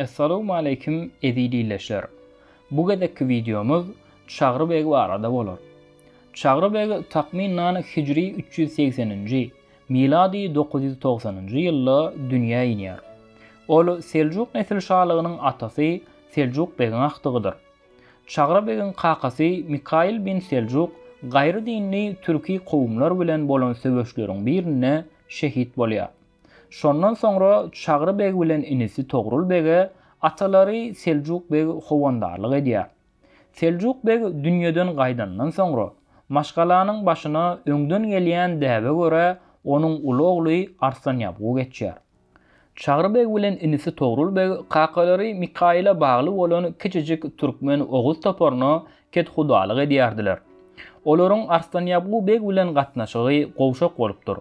Assalamu aleykum eziz illeşler. Bu gezekki videomuz Çagry beg barada bolar. Çagry beg takmynan hijri 380-nji, Milady dokuz ýüz togsanynjy ýylda dünýä inýär. Ol Seljuk nesil şalygynyň atasy Seljuk begiň agtygydyr. Çagra begiň kakasy Mikaýyl bin Seljuk gaýry dinli türki kowumlar bilen bolan söweşleriň birinde şehit bolýar. Şondan soňra Çagry beg bilen inisi Togrul bege atalary Seljuk beg howandarlyk edýär. Seljuk beg dünýeden gaýdandan soňra, maşgalanyň başyna öňden gelýän däbe görä onuň uly ogly Arslanýabgu geçýär. Çagry beg bilen inisi Togrul beg kakalary Mikaýyla bagly bolan kiçijik türkmen oguz toparyna kethudalyk edýärdiler. Olaryň Arslanýabgu beg bilen gatnaşygy gowşak bolupdyr.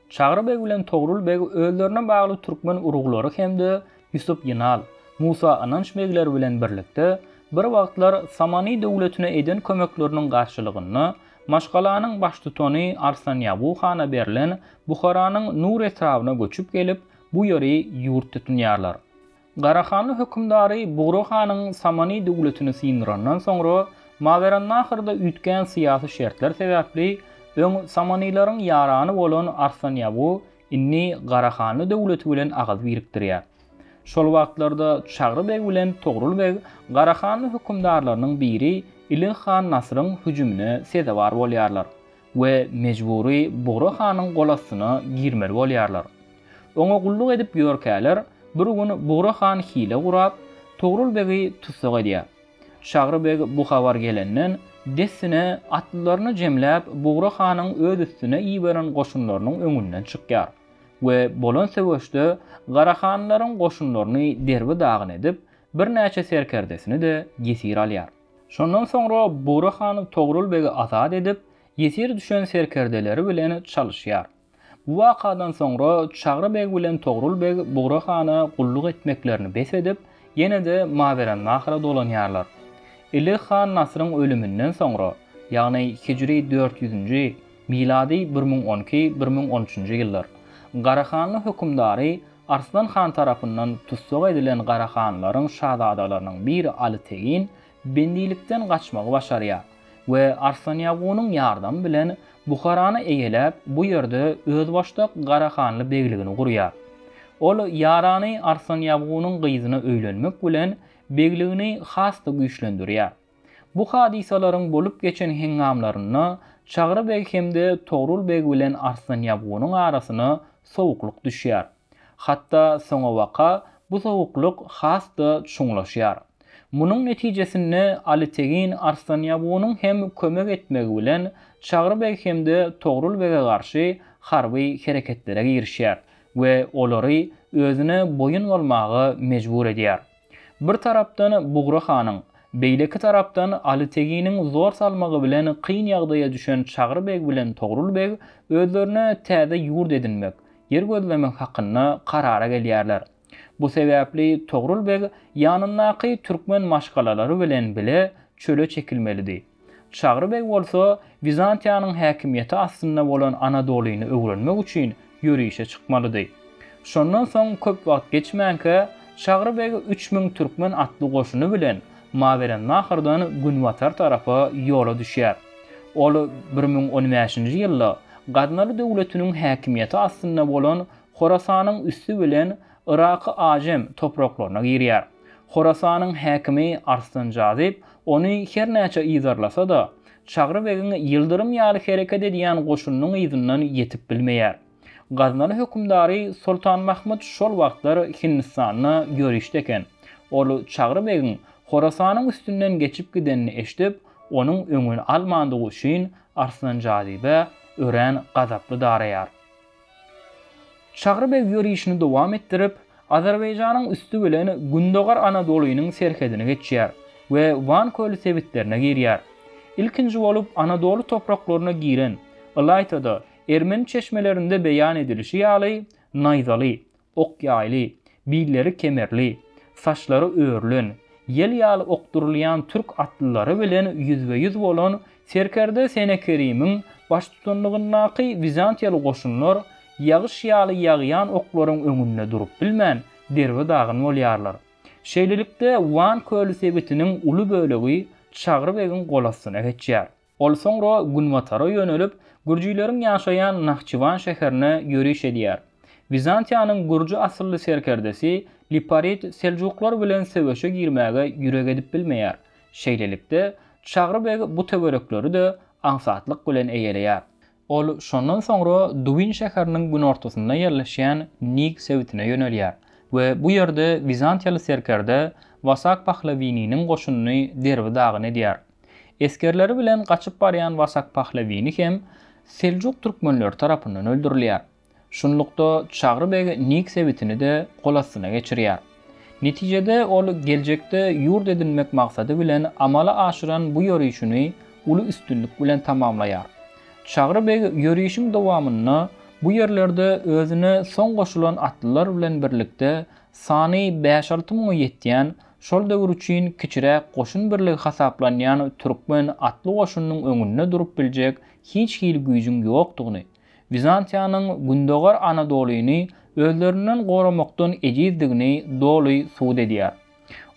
Çagry beg bilen Togrul beg özlerine bagly türkmen uruglary hem-de Ýusup Ýynal, Musa Ynanç begler bilen birlikde bir wagtlar Samany döwletine eden kömekleriniň garşylygynda maşgalanyň baştutany Arslan Ýagu hana berlen Buharanyň Nur etrabyna göçüp gelip, bu ýeri ýurt tutunýarlar. Garahanly hökümdary Bugra hanyň Samany döwletini syndyrandan soňra, Mawerannahyrda üýtgän syýasy şertler sebäpli, öň Samanylaryň ýarany bolan Arslan Ýagu indi Garahanly döwleti bilen agyz birikdirýär. Şol wagtlarda Çagry beg bilen Togrul beg Garahanly hökümdarlarynyň biri Ilig han Nasyryň hüjümine sezewar bolýarlar. we mejbury Bugra hanyň golastyna girmeli bolýarlar. Oňa gulluk edip ýörkäler, bir gün Bugra han hile gurap, Togrul begi tussag edýär. Şagry beg bu habar gelenden, dessine atlylaryny jemläp, Bugra hanyň öz üstüne iberen goşunlarynyň öňünden çykýar we bolan söweşde garahanlylaryň goşunlaryny derbi-dagyn edip, birnäçe serkerdesini-de ýesir alýar. Şondan soňra Bugra han Togrul begi azat edip, ýesir düşen serkerdeleri bilen çalyşýar. Bu wakadan soňra Çagry beg bilen Togrul beg Bugra hana gulluk etmeklerini bes edip, ýene-de Mawerannahra dolanýarlar. Ilig han Nasyryň ölüminden soňra, ýagny hijri dört ýüzünji, milady bir müň on iki, bir müň on üçünji ýyllar, Garahanly hökümdary Arslan han tarapyndan tussag edilen Gara hanlaryň şazadalarynyň biri Aly Tegin bendilikden gaçmagy başarýar we Arslan Ýagunyň ýardamy bilen Buharany eýeläp, bu ýerde özbaşdak Gara hanly begligini gurýar. Ol ýarany Arslan Ýagunyň gyzyna öýlenmek bilen begligini has-da güýçlendirýär. Bu hadysalaryň bolup geçen heňňamlarynda Çagry beg hem-de Togrul beg bilen Arslan Ýabgunyň arasyna sowuklyk düşýär. Hatda soňabaka bu sowuklyk has-da çuňlaşýar. Munuň netijesinde Aly Tegin Arslan Ýabgunyň hem kömek etmegi bilen Çagry beg hem-de Togrul bege garşy harby hereketlere girişýär we olary özüne boýun bolmaga mejbur edýär. Bir tarapdan Bugra hanyň, beýleki tarapdan Aly Teginiň zor salmagy bilen kyn ýagdaýa düşen Çagry beg bilen Togrul beg özlerine täze ýurt edinmek, ýer gözlemek hakynda karara gelýärler. Bu sebäpli Togrul beg ýanyndaky türkmen maşgalalary bilen bile çöle çekilmelidi. Çagry beg bolsa Wizantiýanyň häkimiýeti astynda bolan Anadolyny öwrenmek üçin ýörişe çykmalydy. Şondan soň köp wagt geçmänkä, Çagry beg üç müň türkmen atly goşuny bilen Mawerennahrdan günbatar tarapa ýola düşýär. Ol bir müň on bäşinji ýylda Gaznaly döwletiniň häkimiýeti astynda bolan Horasanyň üsti bilen Yraky Ajem topraklaryna girýär. Horasanyň häkimi Arslan Jazyp ony her näçe yzarlasa-da, Çagry begiň ýyldyrym ýaly hereket edýän goşunynyň yzyndan ýetip bilmeýär. Gaznaly hökümdary Soltan Mahmyt şol wagtlar Hindistanda ýörişde eken. Ol Çagry begiň Horasanyň üstünden geçip gidenini eşidip, onuň öňüni almandygy üçin Arslan Jazyba örän gazaply daraýar. Çagry beg ýörişini dowam etdirip, Azerbaýjanyň üsti bilen Gündogar Anadolynyň serhedini geçýär we Wan köli sebitlerine girýär. Ilkinji bolup Anadoly topraklaryna giren, ylaýta-da, ermeni çeşmelerinde beýan edilişi ýaly, naýzaly, Ok ýaýly, billeri kemerli, saçlary örülen, ýel ýaly okdurylýan türk atlylary bilen ýüzbe-ýüz bolan serkerde Senekerimiň baştutanlygyndaky wizantiýaly goşunlar ýagyş ýaly ýagýan oklaryň öňünde durup bilmän, derbe-dagyn bolýarlar. Şeýlelikde, Wan köli sebitiniň uly bölegi Çagry begiň golastyna geçýär. Ol soňra günbatara ýönelip, gürjileriň ýaşaýan Nahçywan şäherine ýöriş edýär. Wizantiýanyň gürji asylly serkerdesi Liparit seljuklar bilen söweşe girmäge ýürek edip bilmeýär. Şeýlelikde, Çagry beg bu töwerekleri-de aňsatlyk bilen eýeleýär. Ol şondan soňra Dubin şäheriniň günortasynda ýerleşýän Nig sebitine ýönelýär we bu ýerde wizantiýaly serkerde Wasak Pahlawininiň goşunyny derbi-dagyn edýär. Esgerleri bilen gaçyp barýan Wasak Pahlawini hem seljuk türkmenleri tarapyndan öldürilýär. Şunlukda, Çagry beg Nik sebitini-de gol astyna geçirýär. Netijede, ol geljekde ýurt edinmek maksady bilen amala aşyran bu ýörişini uly üstünlik bilen tamamlaýar. Çagry beg ýörişiň dowamynda bu ýerlerde özüne soň goşulan atlylar bilen birlikde sany bäş-alty müňe ýetýän, şol döwür üçin kiçiräk goşun birligi hasaplanýan türkmen atly goşunynyň öňünde durup biljek hiç hili güýjüň ýokdugyny, Wizantiýanyň Gündogar Anadolyny özlerinden goramakdan ejizdigini doly subut edýär.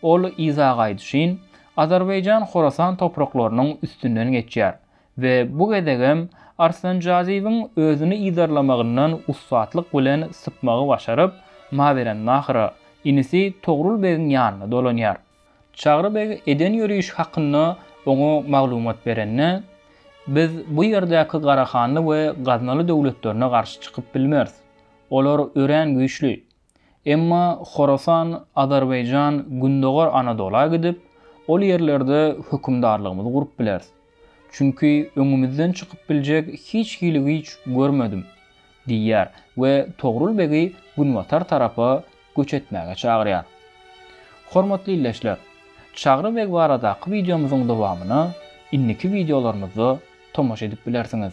Ol yza gaýdyşyn, Azerbaýjan Horasan topraklarynyň üstünden geçýär we bu gezegem Arslanjazyýewiň özüni yzarlamagyndan ussatlyk bilen sypmagy başaryp, Mawerannahyra, inisi Togrul begiň ýanyna dolanýar. Çagry beg eden ýörişi hakynda oňa maglumat berende, Biz bu ýerdäki Garahanly we Gaznaly döwletlerine garşy çykyp bilmeris. Olar örän güýçli. Emma Horasan, Azerbaýjan, Gündogar Anadola gidip, ol ýerlerde hökümdarlygymyzy gurup bileris. Çünki öňümizden çykyp biljek hiç hili güýç görmedim, diýýär we Togrul begi günbatar tarapa göç etmäge çagyrýar. Hormatly ildeşler, Çagry beg baradaky wideomyzyň dowamyna indiki wideolarymyzda tomaşa edip bilersiňiz.